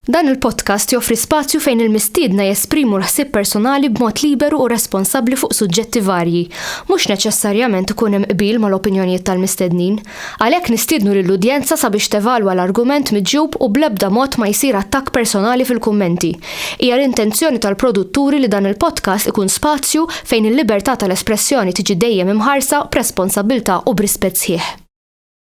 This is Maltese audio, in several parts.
Dan il-podcast joffri spazju fejn il-mistiedna jesprimu l-ħsieb personali b'mod liberu u responsabbli fuq suġġetti varji. Mhux neċessarjament ikun hemm qbil mal-opinjonijiet tal-mistednin. Għalhekk nistiednu lill-udjenza sabiex tevalwa l-argument miġjub u bl-ebda mod ma jsir attakk personali fil-kummenti. Hija l-intenzjoni tal-produtturi li dan il-podcast ikun spazju fejn il-libertà tal-espressjoni tiġi dejjem imħarsa b'responsabbiltà u b'rispett sħiħ.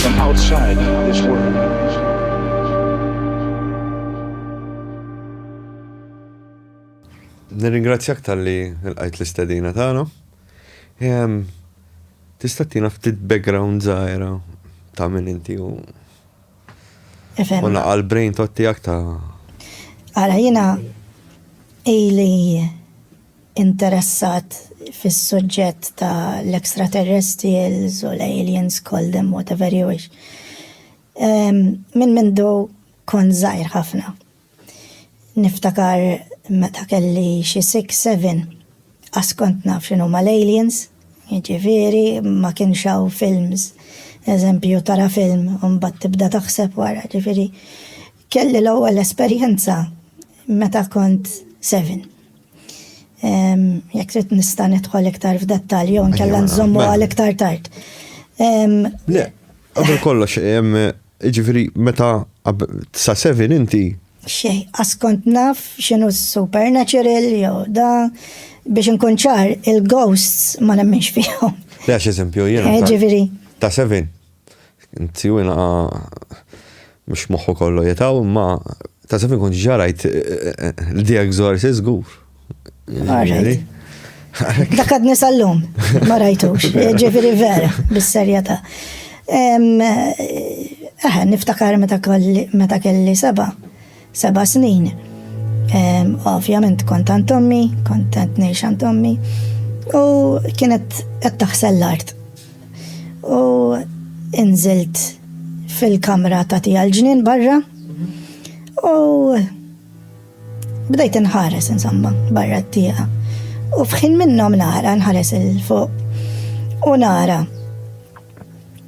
from outside this world. Nirringrazzjak tal-li l-qajt l-istedina tagħna. Tista' tina ftit background zaħira ta' min inti u U naqal brain tot tiegħek ta' Ara jiena ili interessat fis-suġġett ta' l-extraterrestrials u l-aliens, call them whatever you wish, minn mindu kont żgħir ħafna. Niftakar meta kelli xi six, seven, qas kont naf x'inhuma l-aliens, jiġifieri ma kienx hawn films, eżempju tara film u mbagħad tibda taħseb wara, jiġifieri kelli l-ewwel esperjenza meta kont seven. Jekk trid nista' nidħol iktar f'dettalji jew nkella nżommu mela. għal iktar tard. Le, qabel kollox, ġifieri meta sa seven inti. Xej, askont naf x'inhu supernatural jew da biex inkun ċar il-ghosts ma nemminx fihom. Le, eżempju, jiena. Ġifieri. Ta' seven. Tiju inqa mux moħħu kollu jetaw, imma ta' sefin kun ġarajt l-di egzorsi zgur. Dak għadni sal-lum, ma rajtux, ġifiri vera, bis-serjeta. Eħe, niftakar meta kelli seba, Seba' snin. Ovvjament kont għand ommi, kont qed ngħix għand ommi u kienet qed taħsel l-art. U inżilt fil-kamra ta' tija l-ġnien barra u bdejt inħares insomma barra t-tija. U fħin minnhom nara nħares il-fuq u nara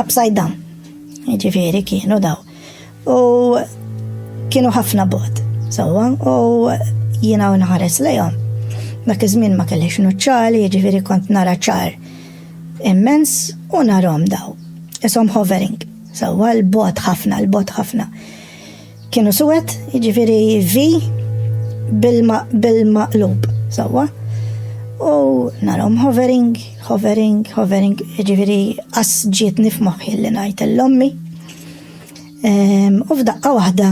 upside down. Ġifiri kienu daw. U kienu ħafna bod. Sawa, u jina u nħares lejom. Dak iż-żmien ma kellix nuċċali, ġifiri kont nara ċar immens u narom daw. Isom hovering. Sawa, l-bot ħafna, l-bot ħafna. Kienu suwed, jiġifieri vi bil-maqlub, sewwa. U narom hovering, hovering, hovering, jiġifieri qas ġietni f'moħħi li ngħid l-ommi. Ehm, u f'daqqa waħda,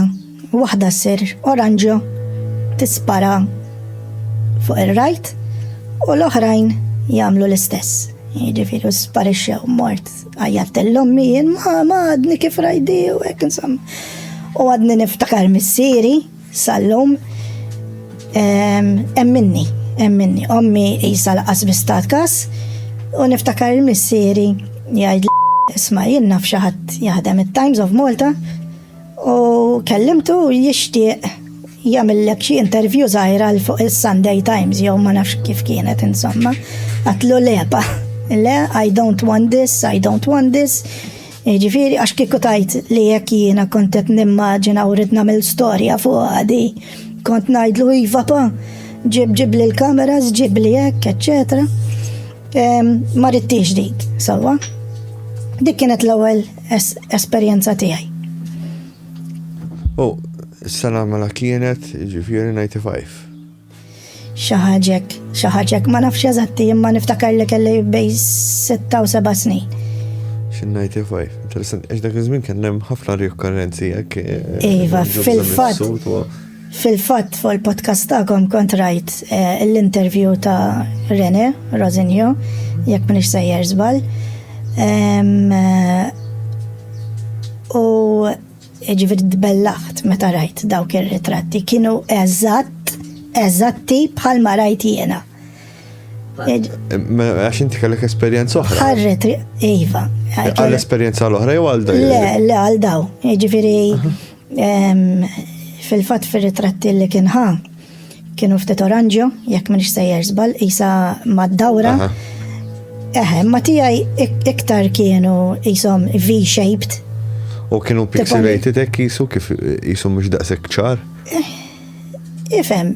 waħda sir oranġo tispara fuq ir-rajt u l-oħrajn jagħmlu l-istess. Jiġifieri sparixxew mort Għajjat l-ommi jien ma għadni kif rajdi u hekk insomma. U għadni niftakar missieri sal-lum emminni, emminni, ommi jisa laqas bistat kas u niftakar il-missieri jgħid isma' jien naf xi ħadd jaħdem it-Times of Malta U kellimtu jixtieq jagħmillek xi intervju żgħira l fuq is-Sunday Times jew ma nafx kif kienet insomma. Għatlu lepa. Le, I don't want this, I don't want this. Ġifiri, għax kiku tajt li jekk jiena kontet nimmaġina u rrid nagħmel storja fuq għadi, kont ngħidlu iva pa, ġib ġib li l-kameras, ġib li jekk, eccetera. Ma ridtix dik, sawa. Dik kienet l-ewwel esperjenza tiegħi. U s-sena mela kienet ġifieri 95. Xaħġek, xaħġek, ma nafx eżatti imma niftakar li kelli bej 6 u 7 snin. Xin 95, interessant, għax dak iż-żmien kien hemm ħafna riokkarrenzi jekk. Eh, iva, fil-fatt. Fil-fatt fuq il-podcast tagħkom kont rajt l-interview ta' Rene Rosinio, jekk minix sejjer żball. U ġifieri tbellaħt meta rajt dawk ir-ritratti kienu eżatt eżatti bħal ma rajt jiena. Għax inti kellek esperjenza oħra. Ħarret, iva. Għal esperjenza l-oħra jew għal daw? Le, le għal daw. Ġifieri Fil-fatt fir-ritratti li kien ħa kienu ftit oranġjo, jekk minix sejjer żball, isa mad-dawra. Eħe, ma tiegħi iktar kienu jisom V-shaped. U kienu pixelated hekk jisu kif jisu mhux daqshekk ċar? Eh, ifhem,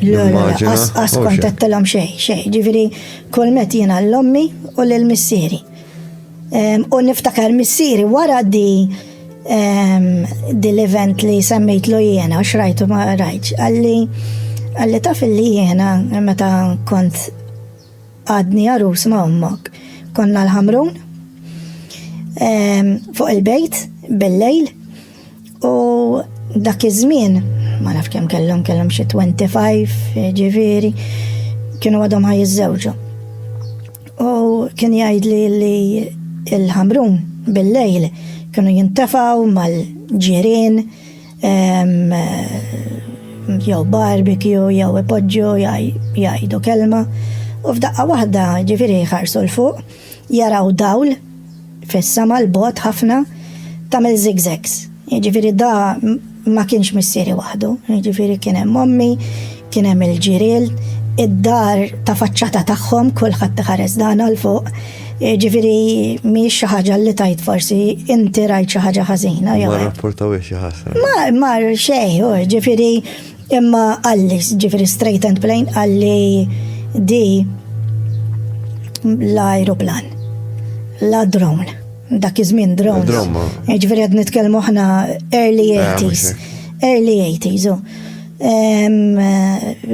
L-immaġina. Għas kontattilom xej, xej. Ġifiri, kol met jena l-ommi u l-missieri. U niftakar missieri wara di dil-event li semmejt lu jena, xrajtu ma rajċ, għalli għalli taf li jena meta kont għadni għarus ma ommok, konna l-ħamrun fuq il-bejt bil-lejl U dak iż-żmien, ma naf kemm kellhom kellhom xi 25 ġifieri, kienu għadhom ħaj iż-żewġu. U kien jgħid li li il-ħamrun bil-lejl kienu jintefaw mal-ġirien ehm, jew barbecue jew ipoġġu jgħidu kelma u f'daqqa waħda ġifieri ħarsu l-fuq jaraw dawl fis-sema l-bogħod ħafna tagħmel zigzags. Jiġifieri da ma kienx missieri waħdu, jiġifieri kien hemm ommi, kien hemm il-ġiriel, id-dar ta' faċċata tagħhom kulħadd iħares dan għal fuq. Ġifieri mhix xi ħaġa li tajt forsi inti rajt xi ħaġa ħażina jew. Ma rapportaw xi ħażna. Ma mar xejn, ġifieri Imma għalli, ġifiri straight and plain, għalli di l-aeroplan, la drone, dak iż-żmien drones. Eh, ġifiri għad nitkellmu ħna early 80s, eh, early 80s, oh. eh,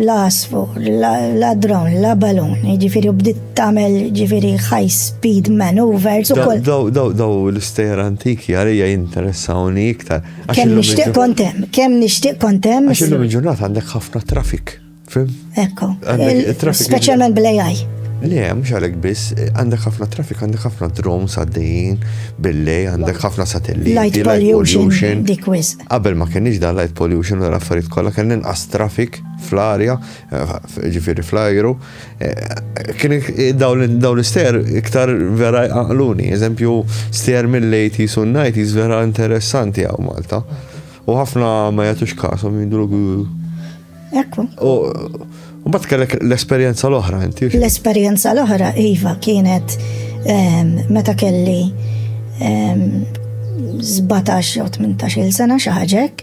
la asfu, la drone, la balun, ġifiri bdiet tamel ġifiri high speed maneuvers u koll. Daw l-istejra antiki għalija jinteressawni iktar. Kemm nixtieq kont hemm, kemm nixtieq kont hemm. Għax illum il-ġurnata għandek ħafna traffic. Fim? Ekku. Speċjalment bl-AI. Le, mux għalek biss, għandek ħafna traffic, għandek ħafna drones għaddejjin, bille, għandek ħafna satelliti. Light pollution, dikwis. Qabel ma kienix da light pollution u l-affarijiet kollha kien inqas traffic fl-arja, eh, ġifieri fl-ajru, Kien dawn l-ister iktar vera jqaqluni, eżempju ster mill-80s u 90s vera interessanti għaw Malta. U ħafna ma jatux kasom jindru. Ekku. U bat kellek l-esperienza l-oħra, inti? L-esperienza l-oħra, Iva, kienet ehm, meta kelli ehm, 17 u 18 sena xaħġek.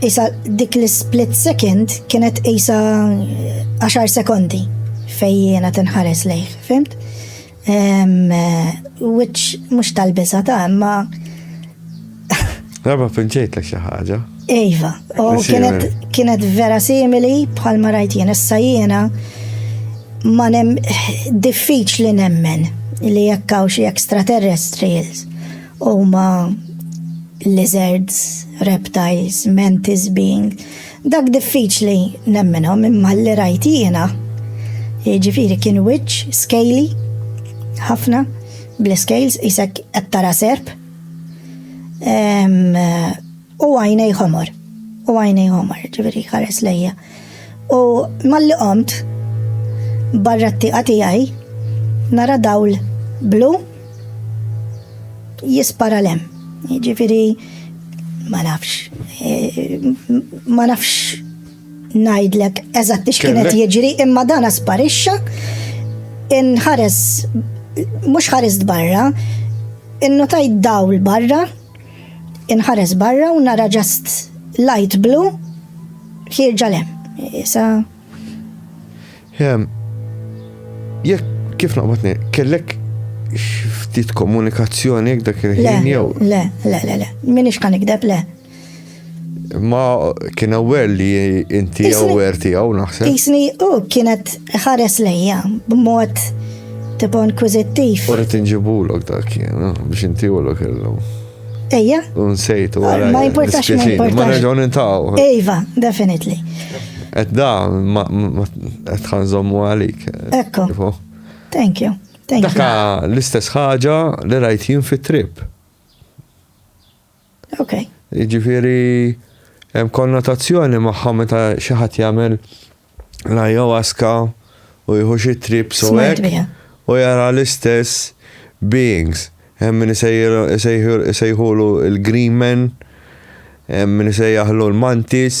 Isa dik l-split second kienet isa 10 sekondi fej jena tinħares lejh, fimt? Which mux tal-biza ta' imma. Raba pinċejt l ħaġa. Iva, u kienet vera simili bħal ma rajt jena, issa jena ma nem diffiċ li nemmen li jekkaw xie extraterrestrials Huma lizards, reptiles, mantis being, dak diffiċli nemminhom imma li rajt jiena. Jiġifieri kien wiċċ scaly ħafna bl-scales isek qed tara serp. U għajnej ħomor. U għajnej ħomor, ġifieri ħares lejja. U malli qomt barra t-tieqa tiegħi nara dawl blu jispara lem. Ġifieri ma nafx. Eh, ma nafx ngħidlek eżatt x'kienet jiġri imma dan sparixxa inħares mhux ħares barra, innotajt dawl barra Inħares barra u nara ġast light blu ħirġa lem. Issa. Jek, kif naqbatni, kellek ftit komunikazzjoni jek dak il-ħin jew? Le, le, le, le, minix kan ikdeb, le. Ma kien aware li inti aware tiegħu naħseb. Isni u kienet ħares lejja b'mod tipo inkwizittiv. U rrid inġibulok dak jien eh, biex inti u l-ok illum. Ejja. Unsejtu. Ma importax ma importax. Ma nerġgħu nintaw. Ejva, definitely. Et da, ma et ħanżommu għalik. Ekko. Thank you. Thank you. Daka l-istess ħaġa li rajt jien fit-trip. Ok. Jiġifieri hemm konnotazzjoni magħha meta xi ħadd jagħmel l-ayahuasca u jieħu xi trips u hekk u jara l-istess beings. Hemm min isejħulu l-green men, hemm min isejjaħlu l-mantis.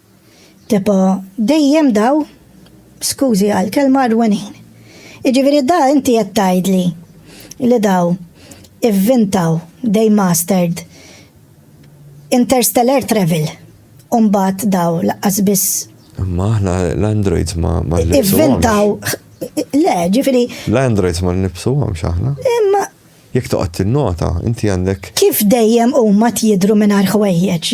Tipo, dejjem daw, skużi għall-kelma rwenin. Jiġifieri da inti qed tgħidli li daw ivvintaw, they mastered, interstellar travel u mbagħad daw laqqas biss. Imma aħna l-androids ma nlibsuhomx. Ivvintaw, le, ġifieri. L-androids ma nlibsuhomx aħna. Imma Jekk toqgħod tinnota, inti għandek. Kif dejjem huma tjidhru mingħajr ħwejjeġ,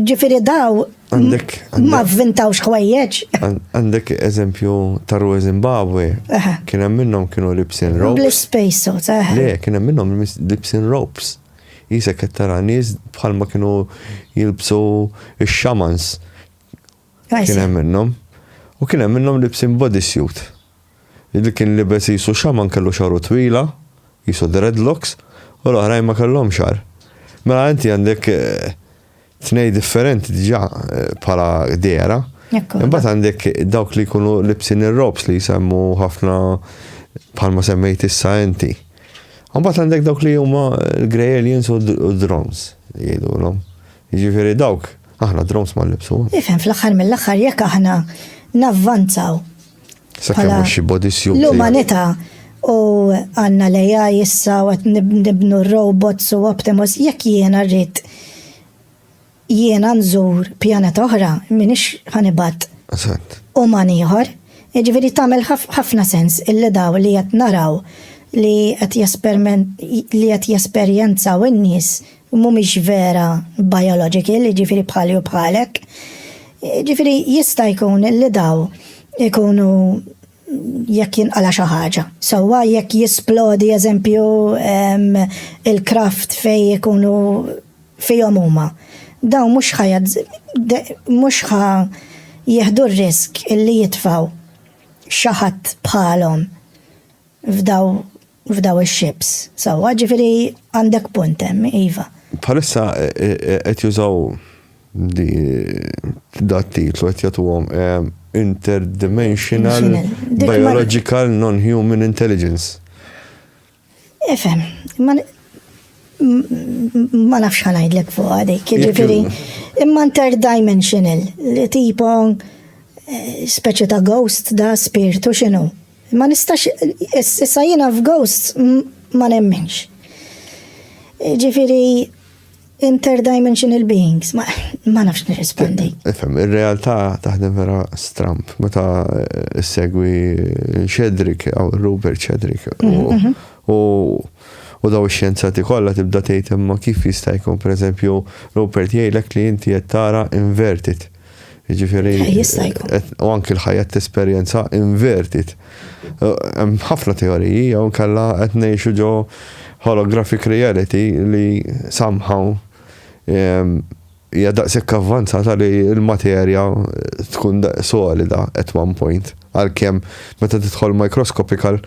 ġifieri daw ma vvintawx ħwejjeġ. Għandek eżempju ta' Rue Zimbabwe, kien hemm minnhom kienu libsin ropes. Blis space suits, eh. Le, kien hemm minnhom libsin ropes. Jisek qed tara nies bħalma kienu jilbsu x-xamans. Kien hemm minnhom. U kien hemm minnhom libsin bodysuit. Li kien libes qisu xaman kellu xagħru twila, qisu dreadlocks, u l-oħrajn ma kellhomx xagħar. Mela inti għandek tnej differenti diġà bħala dehra. Imbagħad għandek dawk li jkunu libsin ir-robs li jsemmu ħafna bħalma semmejt issa inti. Imbagħad għandek dawk li huma l-grey aliens u d-drones jgħidulhom. Jiġifieri dawk Aħna drones ma nlibsu. Ifhem fl-aħħar mill-aħħar jekk aħna navvanzaw. Sakemm mhux xi body suit. L-umanità u għandna lejja issa u qed nibnu robots u Optimus jekk jiena rrid jiena nżur pjaneta oħra minix ħanibat. Eżatt. U man ieħor, jiġifieri tagħmel ħafna sens illi daw li qed naraw li qed li qed jesperjenzaw in-nies u mhumiex vera biological, jiġifieri bħali u bħalek. Jiġifieri jista' jkun li daw ikunu jekk jinqala xi ħaġa. Sewwa jekk jisplodi eżempju il-kraft fej ikunu fihom huma. Daw mhux ħajad mhux ħa jieħdu r-risk illi jitfaw xi ħadd bħalhom f'daw f'dawn ix-ships. Sewwa, ġifieri għandek punt hemm, iva. Bħalissa qed jużaw dat titlu qed jagħtuhom interdimensional biological non-human intelligence. Ifhem, ma nafx ħa ngħidlek fuq għadik, jiġifieri imma interdimensional li tipo eh, speċi ta' ghost da spirtu x'inhu? Ma nistax, issa jiena f'ghosts ma nemminx. Ġifiri, interdimensional beings, ma, ma nafx nirrispondi. Ifem, il-realtà taħdem vera stramp, meta eh, segwi Shedrick, għaw Rupert Shedrick, u mhm, mhm. daw xjenzati kollha tibda tgħid imma kif jista' jkun pereżempju Rupert jgħidlek li inti qed tara inverted. Ġifiri. Eh, jista' jkun. Eh, u anki l-ħajja t-esperjenza invertit. Eh, hemm ħafna teoriji jew kalla qed ngħixu ġo holographic reality li somehow ehm, hija daqshekk avvanzata li l-materja tkun solida at one point. Għalkemm meta tidħol microscopical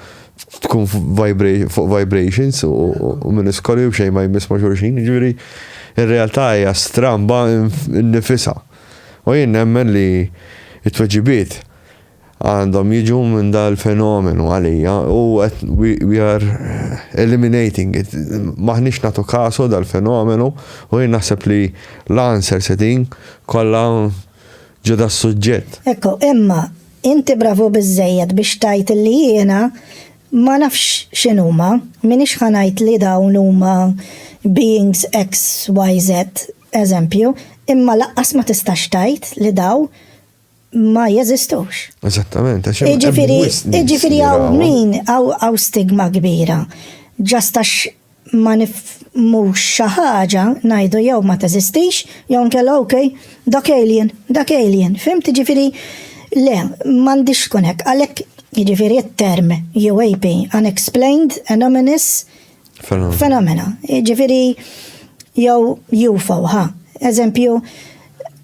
tkun fuq vibrations u minn iskoli u xejn ma jmiss ma' xulxin, ġifieri ir-realtà hija stramba nifisa. U jien nemmen li t-tweġibiet għandhom jiġu minn dal-fenomenu għalija u we are eliminating it. Maħniex natu kasu dal-fenomenu u jien naħseb li l-answer setin kollha ġo das-suġġett. Ekku, imma inti bravu biżżejjed biex tgħid li jiena ma nafx x'inhuma, m'iniex ħa ngħid li dawn huma beings X, Y, Z, eżempju, imma lanqas ma tistax tgħid li dawn ma jeżistux. Eżattament, għax Jiġifieri hawn min hawn stigma kbira. Ġastax ma nifhmux xi ħaġa ngħidu jew ma teżistix jew nkella ok, dak alien, dak alien, fimt? Jiġifieri le, m'għandhiex tkun hekk. Għalhekk jiġifieri t-term UAP, unexplained anomalous phenomena, jiġifieri jew UFO, ħa, eżempju,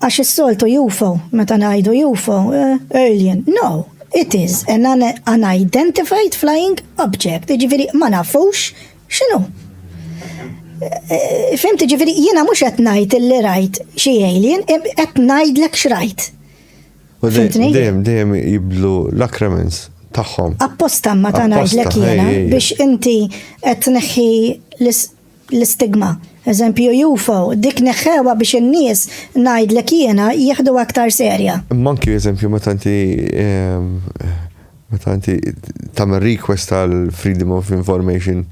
Għax is-soltu UFO, meta ngħidu UFO, eh, alien, no, it is an unidentified flying object, ġifiri ma nafux xinu. Eh, Fimt ġifiri jiena mhux qed ngħid li rajt xi alien, qed ngħidlek x'rajt. U dejjem dejjem jiblu l-akremens tagħhom. Apposta ma ta' ngħidlek jiena biex inti qed tneħħi l l-istigma. Eżempju Eufo, dik neħħewha biex in-nies, ngħidlek jiena, jieħduha aktar serja. Imma anki eżempju meta inti ehm, meta inti tagħmel request għal Freedom of Information.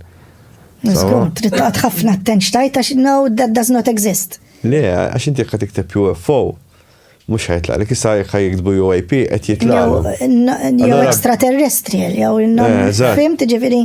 Żgur, trid taqgħod ħafna attenx tajt għax no that does not exist. Le, għax inti jekk tikteb UFO, mux ħajtla, li kissa jekk jiktbu UAP qed jitla. Jew extraterrestrial, jew eh, fimt ġifieri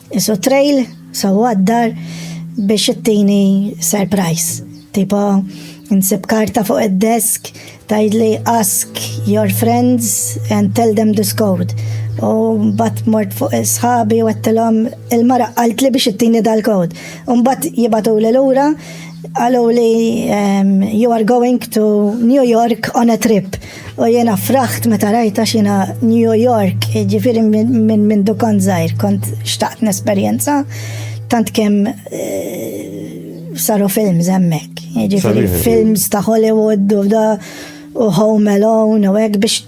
Isu trail, so għaddar biex ittini surprise. Tipo, nsib karta fuq id-desk, tajdli ask your friends and tell them this code. U bat mort fuq sħabi u għattilom il-mara għalt li biex ittini dal-kod. Un bat jibatu li l-ura għalu li um, you are going to New York on a trip. U jena fraħt meta rajta xina New York, ġifiri minn min dukan zaħir, kont xtaqt n-esperienza, tant kem eh, saru film zemmek, ġifiri films ta' Hollywood u da u Home Alone u għek biex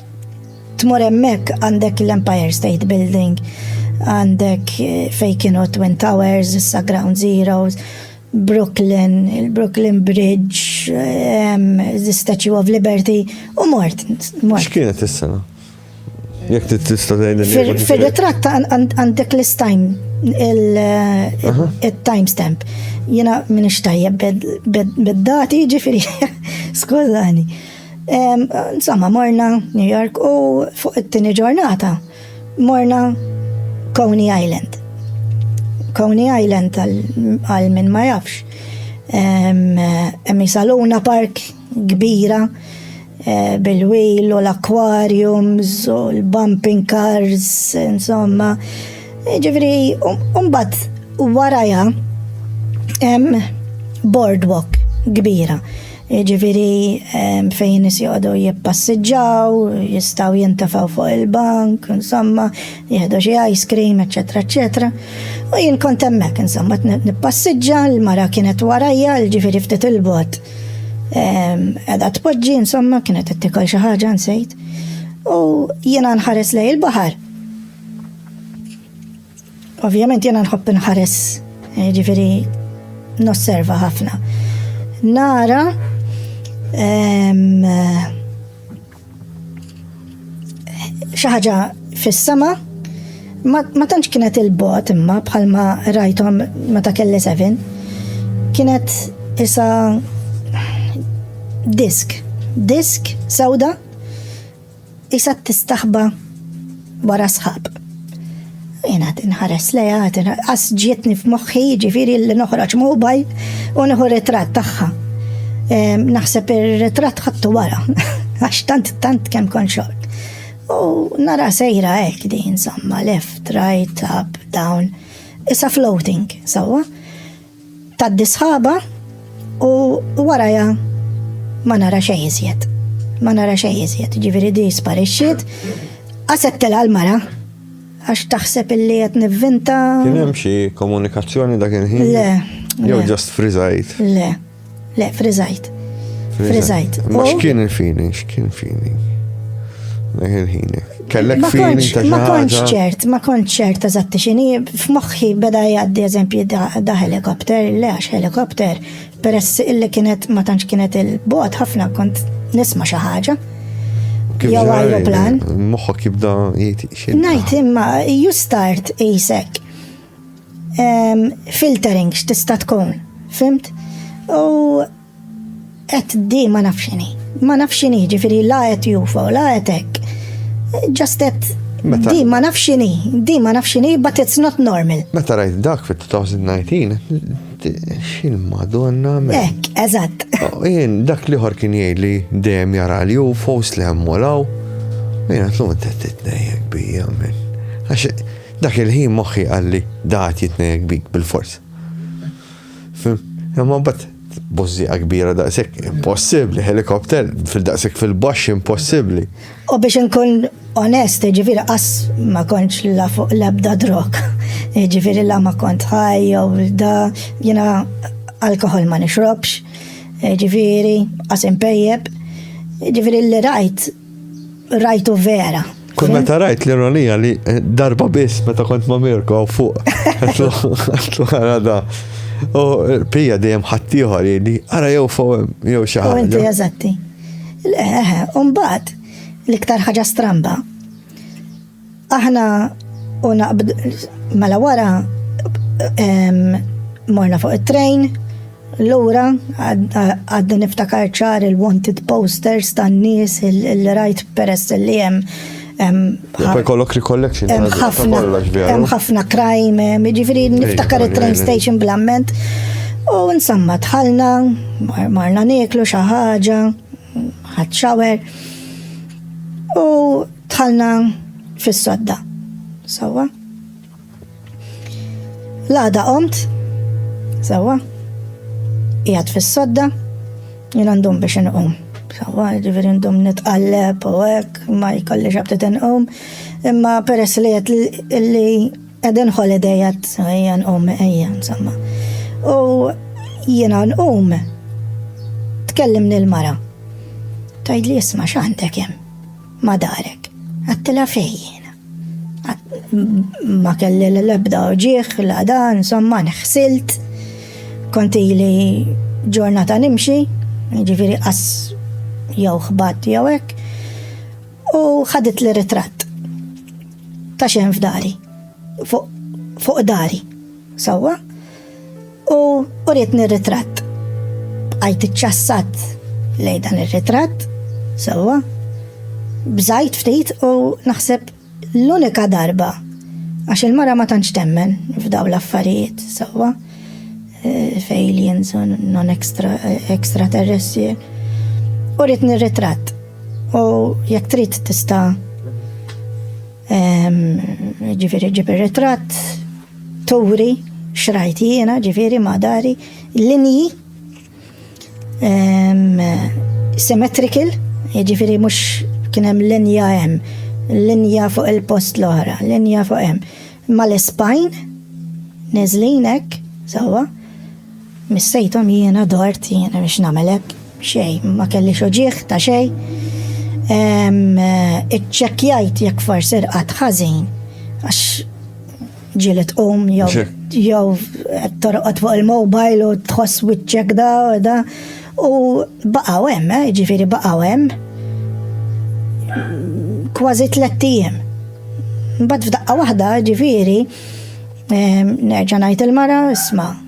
tmur emmek għandek l-Empire State Building, għandek eh, fej kienu Twin Towers, issa Ground Zeroes, Brooklyn, il-Brooklyn Bridge, the Statue of Liberty, u mort. X'kienet is-sena? Jek tista' tgħidli. Fir-ritratt għandek l-istime il-time stamp. Jena minn ixtajjeb bed-dati ġifiri, skużani. Insomma, morna New York u fuq it-tini ġurnata Morna Coney Island. Coney Island għal min ma jafx. Hemm saluna park kbira eh, bil-wil u l-aquariums u l-bumping cars, insomma. Ġifri, umbat waraja hemm boardwalk kbira Jiġifieri fejn nies joqogħdu jippassiġġaw, jistgħu jintafaw fuq il-bank, insomma, jieħdu xi ice cream, eċetera, eċetera. U jien kont hemmhekk, insomma, nippassiġġa, l-mara kienet warajja, ġifieri ftit il-bot. Qiegħda tpoġġi, insomma, kienet qed tikol xi ħaġa nsejt. U jiena nħares lej il-baħar. Ovvjament jena nħobb nħares, eh, ġifiri nosserva ħafna. Nara eh, xaħġa fis-sama ma tantx kienet il-bot imma bħalma rajtom meta kelli seven kienet isa disk disk sawda Qisha tistaħba wara sħab. Jena tinħares leja, għas ġietni f'moħħi ġifiri li noħroġ mobile u nieħu ritratt tagħha. Naħseb ir-ritratt ħattu wara, għax tant tant kemm kon xort. U nara sejra hekk din insomma, left, right, up, down. Issa floating, sawa. Tgħaddi sħaba u warajha ma nara xejn iżjed. Ma nara xejn iżjed, ġifieri di sparixxiet. Qaset telha l-mara għax taħseb illi qed nivvinta. Kien hemm xi komunikazzjoni dak il-ħin? Le. Jew ġast friżajt? Le. Le, friżajt. Friżajt. Ma x'kien il-fini, x'kien fini. Leħil-ħini. Kellek fini ta' Ma konċ ċert, ma konċ ċert eżatti xini, f'moħħi beda jgħaddi eżempju da helikopter, le għax helikopter, peress illi kienet ma tantx kienet il-bot ħafna kont nisma xi ħaġa jew aeroplan. Moħħok jibda jgħid xejn. Ngħid imma you start isek filtering x'tista' tkun, fimt? U qed di ma nafx inhi. Ma nafx inhi, ġifieri la qed jufo, la qed hekk. Just qed di ma nafx inhi, di ma nafx inhi, but it's not normal. Meta rajt dak fit-2019, xil madonna me. Ek, eżatt. Oh, jien dak li ħor kien jgħid li dejjem jara li ufos li hemm walaw. Jien għatlu t-tnejjek bija minn. Dak il-ħin moħħi qalli da għad jitnejjek bik bil-fors. Imma bat bozziqa kbira daqshekk impossibbli, helikopter fil-daqshekk fil-baxx impossibbli. U biex nkun onest, ġifiri qas ma kontx la fuq l-ebda drog. Ġifiri la ma kont ħaj jew da jiena alkohol ma nixrobx, ġifiri qas impejjeb. Ġifiri li rajt rajtu vera. Kull meta rajt l-ironija li eh, darba biss meta kont ma' Mirko għaw fuq. Għatlu għara da. U eh, pija dejjem ħattijħor li għara jew fuq eh, jew xaħġa. U inti eżatti. Leħe, umbat, l-iktar ħaġa stramba. Aħna u naqbd mela wara morna fuq it-train Lura, għadni niftakar ċar il-wanted posters tan nies il-rajt peress li jem. Poi kollok recollection. Hemm ħafna crime, ġifiri niftakar il-train station blamment. U nsamma tħalna, marna nieklu xaħġa, ħadxawer. U Dħalna fis-sodda. Sewwa. L-għada qomt, sewwa, jgħad fis-sodda, jien għandhom biex inqum. Sewwa, ġifieri għandhom nitqalleb u hekk, ma jkollix abtit inqum, imma peress li qed li qegħdin holiday qed ejja nqum ejja insomma. U jiena nqum tkellimni l-mara. Tajd li jisma' x'għandek hemm. Ma darek. Għattila fej jena. Ma kelli l-ebda uġieħ, la dan, somma nħsilt. Konti li ġurnata nimxi, ġifiri qas jew xbat jew hekk, u ħadit li ritratt ta' xejn f'dari, fuq dari, sewwa, U uritni r-ritratt. Bqajt iċċassat lej dan ir-ritratt, sewwa, bżajt ftit u naħseb l-unika darba għax il-mara ma tantx temmen f'daw l-affarijiet, sewwa, eh, f'aliens u non extraterrestri. Uritni r-ritratt u jekk trid tista' ehm, ġifieri ġib ir-ritratt, Turi xrajt jiena ġifieri ma' dari linji ehm, symmetrical, ġifieri mhux kien hemm linja hemm, linja fuq il-post l-oħra, linja fuq hemm. Mal-espajn, neżlin hekk, sewwa. Missejthom jiena dort jiena biex nagħmel hekk, xejn, ma kellix uġigħ ta' xejn. Iċċekkjajt jekk forsi rqad ħażin għax ġieli tqum jew jew torqod fuq il-mobile u tħoss wiċċek da u da u baqgħu hemm, eh, ġifieri baqgħu hemm kważi tliet ijiem. Mbagħad f'daqqa waħda ġifieri nerġa' ngħid il-mara isma'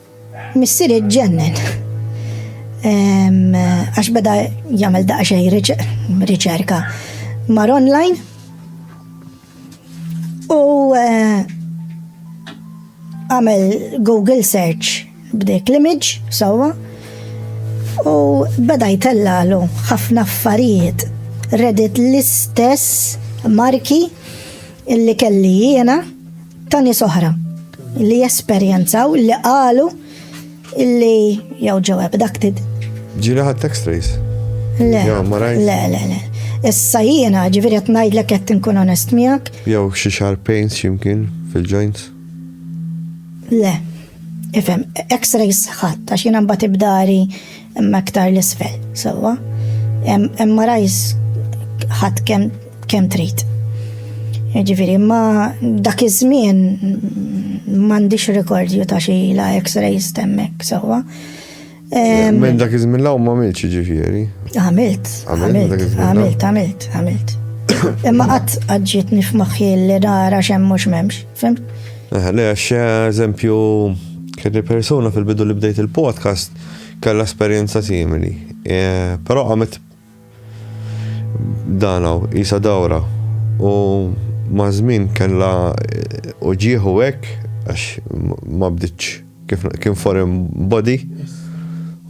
Missieri ġennen. Għax beda jagħmel daqsxejn riċerka mar online u eh, għamel Google search b'dik l-image sewwa u beda jtellalu ħafna affarijiet Reddit l-istess marki Illi kelli jiena ta' nies oħra li jesperjenzaw li qalu illi jew ġew abducted. Ġili ħadd x-rays? Le, le, le, le. Issa jiena ġifieri qed ngħidlek qed inkun onest miegħek. Jew xi xar pains x'imkien fil-joints? Le. Ifhem, x-rays ħadd għax jiena mbagħad ibdari Imma aktar l-isfel, sewwa. Imma rajs ħadd kemm kemm trid. Ġifieri, imma dak iż-żmien m'għandix rekordju ta' xi la X-rays temmek, sewwa. Minn dak iż-żmien law ma għamilx ġifieri. Għamilt, għamilt, għamilt, għamilt, għamilt. Imma qatt għadġiet nifmaħħi li nara xemm mhux m'hemmx, fim? Le, għax eżempju, kelli persuna fil-bidu li bdejt il-podcast kellha esperjenza simili, però qamet dan hawn qisha dawra u maż-żmien kellha uġigħ u hekk għax ma bdietx kif kien foreign body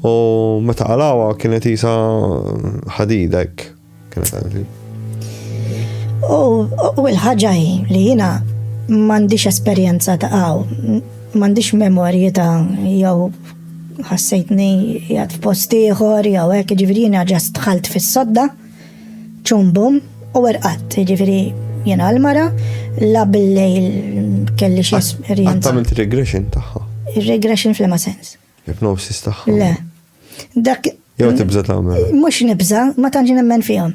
u meta qalgħuha kienet qisha ħadida hekk. U l-ħaġa hi li jiena m'għandix esperjenza ta' għaw, m'għandix memorji ta' jew ħassejtni jgħat f'post ieħor jew hekk, ġifieri jiena ġast dħalt fis-sodda, ċumbum u erqat, ġifieri jiena l-mara, la bil-lejl kelli xi esperjenza. Għattament regression tagħha. Regression fl-ma sens. Hypnosis tagħha. Le. Dak. Jew tibża tagħmel. Mhux nibża, ma tantx nemmen fihom.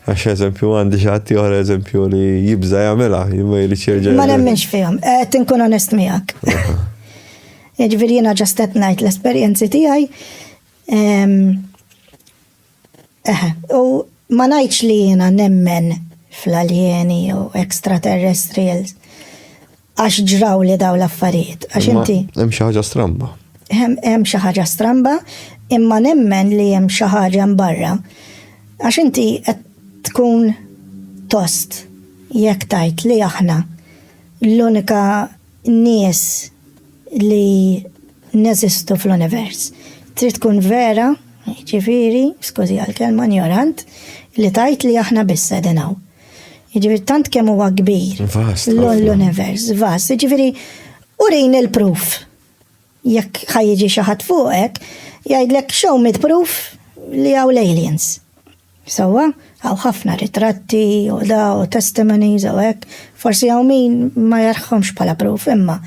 Għax eżempju għandi xi ħadd ieħor eżempju li jibża jagħmilha, ma jrid jerġa'. Ma nemmenx fihom, qed inkun onest miegħek. Jiġifieri jiena ġastet ngħid l-esperjenzi tiegħi. Ehm, Eħe, u ma ngħidx li jiena nemmen fl-aljeni jew extraterrestrials għax ġraw li daw l-affarijiet. Għax inti. Hemm xi ħaġa stramba. Hemm xi ħaġa stramba, imma nemmen li hemm xi ħaġa mbarra. Għax inti qed tkun tost jekk tajt li aħna l-unika nies li neżistu fl-univers. Trid tkun vera, jiġifieri, skużi għall-kelma, injorant, li tgħid li aħna biss qegħdin hawn. Jiġifieri tant kemm huwa kbir l-univers, vast, jiġifieri urin il-proof Jekk ħa jiġi xi ħadd fuqek, jgħidlek show me proof li hawn l-aliens. Sewwa, hawn ħafna ritratti u da u testimonies u hekk, forsi hawn min ma jarħhomx bħala proof, imma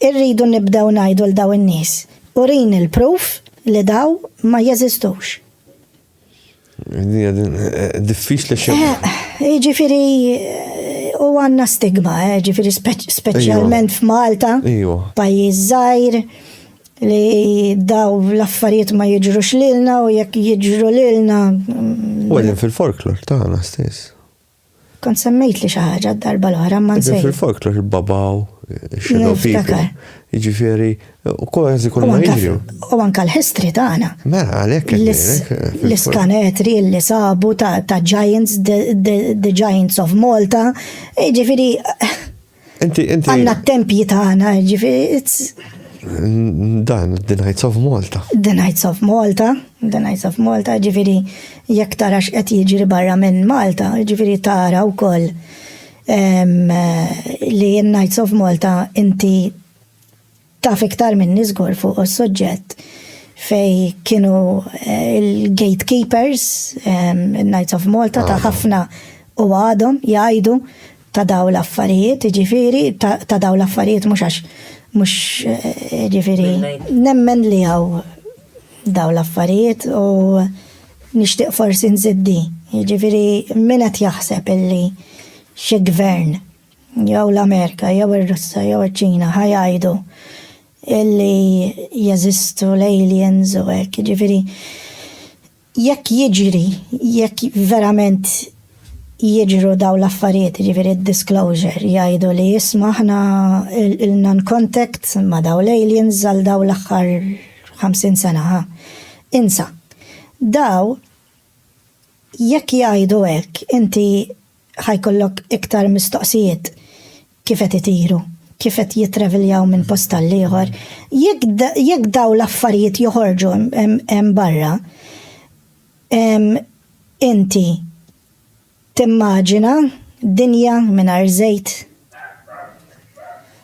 irridu nibdew ngħidu l dawn in-nies, urini l-proof li dawn ma jeżistux. Diffiċli xi. Jiġifieri u għandna stigma, jiġifieri speċjalment f'Malta, pajjiż żgħir li daw l-affarijiet ma jiġrux lilna u jekk jiġru lilna. U għedin fil-folklor tagħna stess. Kont semmejtli xi ħaġa d-darba l-oħra ma nsejt. Fil-folklor il-babaw, shadow people. Jiġifieri, u kważi kull ma jiġri. U anke l-history tagħna. Mela, għalhekk L-iskanetri li sabu ta' giants, the giants of Malta, jiġifieri. Inti, inti. Għanna t-tempji tagħna, ġifieri Dan, The Knights of Malta. The Knights of Malta, The Knights of Malta, ġifiri, jekk tarax qed jiġri barra minn Malta, ġifiri tara u koll li Knights of Malta inti Taf iktar minni żgur fuq is-suġġett fej kienu eh, il-gatekeepers, ehm, il-Knights of Malta ta' ħafna u għadhom jgħidu ta' daw l-affarijiet, ġifiri, ta' daw l-affarijiet mux għax, mux eh, ġifiri, nemmen li għaw daw l-affarijiet u nishtiq forsi nżiddi, ġifiri, minnet jaħseb illi xie gvern jew l-Amerika jew ir-Russja jew iċ-Ċina ħa jgħidu illi jeżistu l-aliens u hekk, jiġifieri jekk jiġri, jekk verament jiġru daw l-affarijiet, jiġifieri d-disclosure, jgħidu li jisma' aħna ilna n-contact ma' daw l-aliens għal daw l-aħħar 50 sena ħa. Insa. Daw jekk jgħidu hekk, inti ħa jkollok iktar mistoqsijiet, kif qed itiru, kif qed jittraveljaw minn post għall-ieħor. Jekk dawn l-affarijiet joħorġu hemm barra, inti timmaġina dinja mingħajr żejt?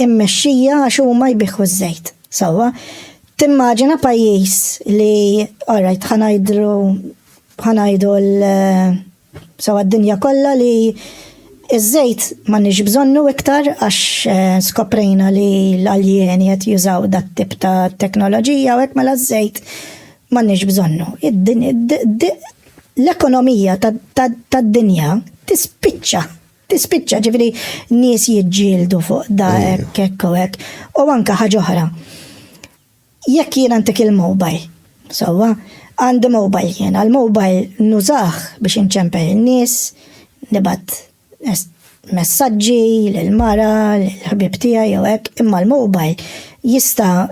immexxija għax huma jbiħħu ż-żejt sewwa. Timmaġina pajjiż li alright ħanajdru ħanajdu l sewwa d-dinja kollha li iż-żejt m'għandniex bżonnu iktar għax eh, skoprejna li l-aljeni qed jużaw dat tip ta' teknoloġija u hekk mela ż-żejt m'għandniex bżonnu. L-ekonomija tad-dinja tispiċċa Tispiċċa ġifieri nies jiġġieldu fuq da hekk hekk u hekk. U anke ħaġa oħra. Jekk jien għandek il-mobile, sewwa, għandi mobile jien, għal-mobile nużah biex inċempel in-nies, nibgħat messaġġi lill-mara, lill-ħbieb tiegħi jew hekk, imma l-mobile jista'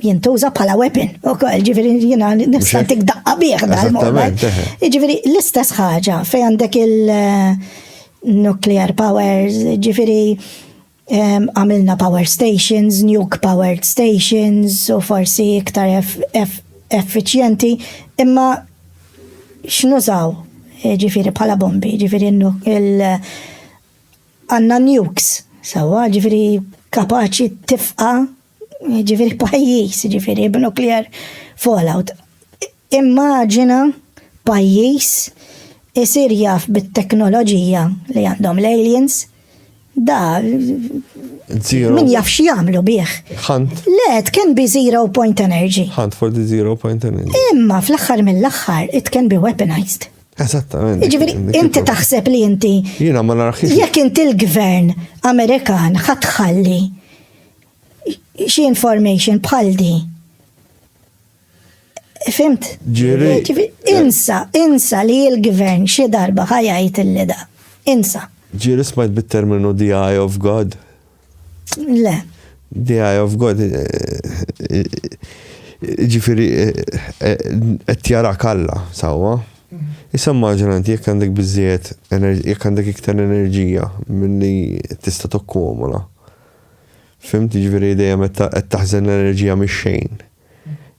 jintuża bħala weapon u koll, ġifiri jina nista' tik daqqa bieħ dal-moment. Ġifiri l-istess ħaġa fej għandek il-nuclear eh, powers, ġifiri ehm, għamilna power stations, nuke powered stations u forsi iktar effiċjenti, imma x'nużaw eh, ġifiri bħala bombi, ġifiri il- Għandna nukes, sewwa, ġifieri kapaċi tifqa' ġifieri pajjiż, ġifieri b'nuclear fallout. Immaġina pajjiż isir jaf bit-teknoloġija li għandhom l-aliens, da min jaf x'jagħmlu bih. Le, it can be zero point energy. Hunt for the zero point energy. Imma fl-aħħar mill-aħħar, it can be weaponized. Eżattament. Ġifieri inti taħseb li inti. Jiena ma narħiex. Jekk inti l-gvern Amerikan ħatħalli xi information bħal di. Fimt? Ġiri. Insa, insa li l-gvern xi darba ħajajt il-lida. Insa. Ġiri smajt bit-terminu the eye of God. Le. The eye of God. Ġifiri, qed jarak Alla, sawa. Issa maġna inti jekk għandek biżżejjed jekk għandek iktar enerġija milli tista' tokkumula. Fimti ġifieri dejjem qed taħżen l-enerġija mix-xejn.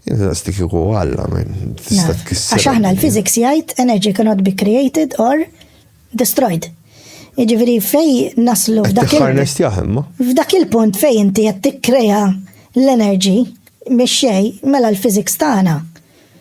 Inqas dik u għalla minn tista' tkisser. Għax aħna l-physics jgħid energy cannot be created or destroyed. Jiġifieri fej naslu f'dak il-punt. F'dak il-punt fej inti qed tikkrea l-enerġi mix-xej mela l-physics tagħna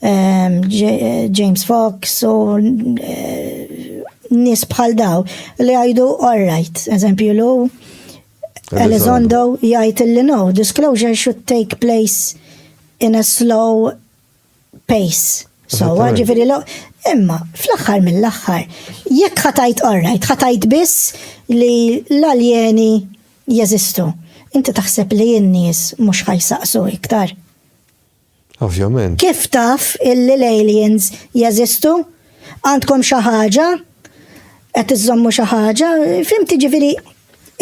Ehm, James Fox u eh, nis bħal daw li għajdu all right, eżempju lu Elizondo jgħid li no, disclosure should take place in a slow pace. So, ġifiri lo, imma, fl-axħar mill-axħar, jekk ħatajt orrajt, ħatajt biss li l-aljeni jeżistu. Inti taħseb li jinnis mux ħajsaqsu iktar. Ovvjament. Kif taf illi l-aliens jeżistu? Għandkom xi ħaġa? Qed iżommu xi ħaġa? Fim tiġifieri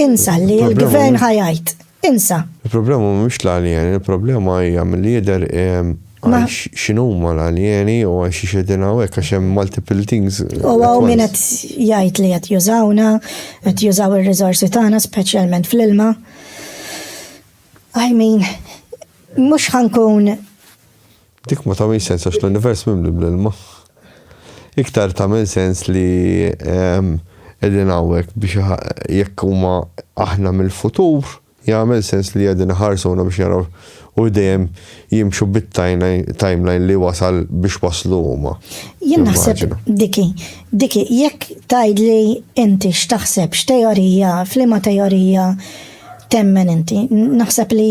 insa li l-gvern ħajajt. Insa. Il-problema mhux l-alien, il-problema hija milli jidher ehm, għax x'inhuma l-alieni u għax xedin hawnhekk għax hemm multiple things. U għaw min qed jgħid li qed jużawna, qed jużaw ir-riżorsi tagħna speċjalment fl-ilma. I mean, mux ħankun. Dik ma tamil sens għax l-univers mimli bl-ilma. Iktar tamil sens li ehm, edin għawek biex jekk huma aħna mill-futur, jgħamil sens li għedin ħarsuna biex jaraw u dejjem jimxu bit-timeline li wasal biex waslu huma. Jien naħseb diki, diki, jekk tajd li inti x'taħseb x'teorija, flima teorija, temmen inti? Naħseb li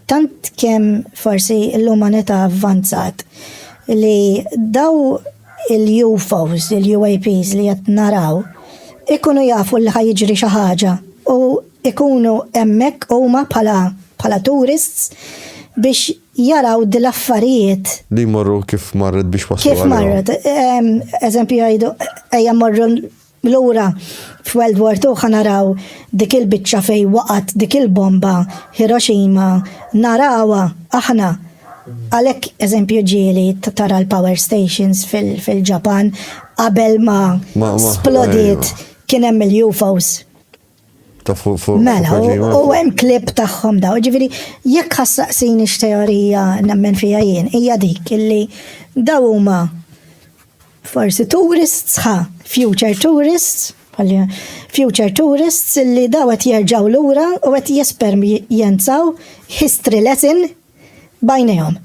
tant kemm forsi l-umanità avvanzat li daw il-UFOs, il-UAPs li qed naraw, ikunu jafu li ħajġri xi ħaġa u ikunu hemmhekk huma bħala bħala tourists biex jaraw dil affarijiet. Li jmorru kif marret biex waslu. Kif marret, eżempju jgħidu ejja morru Lura, f'World War Two ħa naraw dik il-biċċa fejn waqgħet dik il-bomba, Hiroshima, narawha aħna. Għalhekk eżempju ġieli tara l-power stations fil-Ġapan qabel ma splodiet kien hemm il-UFOs. Mela, u hemm klib tagħhom daw, ġifieri jekk ħassaqsin x-teorija nemmen fija jien, hija dik illi daw huma forsi tourists ħa, future tourists, future tourists illi daw qed jerġgħu lura u qed jesperjenzaw history lesson bajnejhom.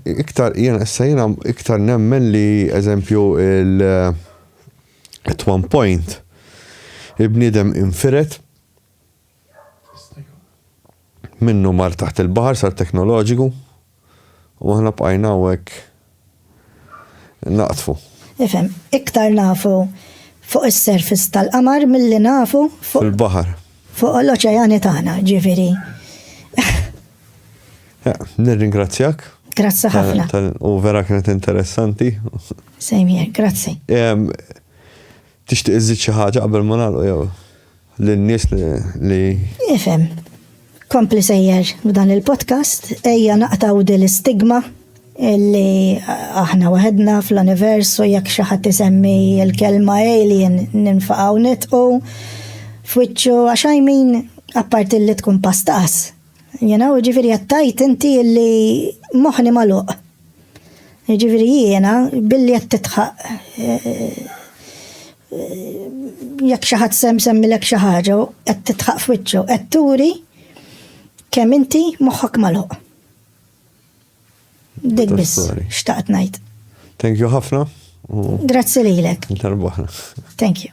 Iktar jien issa jiena iktar nemmen li eżempju il- At one point, il-bniedem infired minnu mar taħt il-baħar sar teknoloġiku u aħna bqajna hawnhekk naqdfu. Ifhem, iktar nafu fuq is-surface tal-qamar milli nafu fuq. Il-baħar. Fuq l-oċeani tagħna, ġifieri. Nirringrazzjak. Grazzi ħafna. U vera kienet interessanti. Same here, grazzi. Tixtieq iżid xi ħaġa qabel ma nagħlqu jew lin-nies li. Ifhem. Kompli sejjer b'dan il-podcast, ejja naqtaw din l-istigma li aħna waħedna fl-univers u jekk xi ħadd isemmi l-kelma alien ninfaqgħu nitqu f'wiċċu għax I mean apparti li tkun pastaqas. You know, ġifiri jattajt inti illi moħni maluq. Ġifiri jiena, billi jett titħaq. Eh, eh, jekk xaħat sem semmi lek xaħġa, jett titħaq fwitċu, jett turi kem inti moħħok maluq. Dik biss, xtaqt najt. Thank you ħafna. Grazzi lilek. Thank you.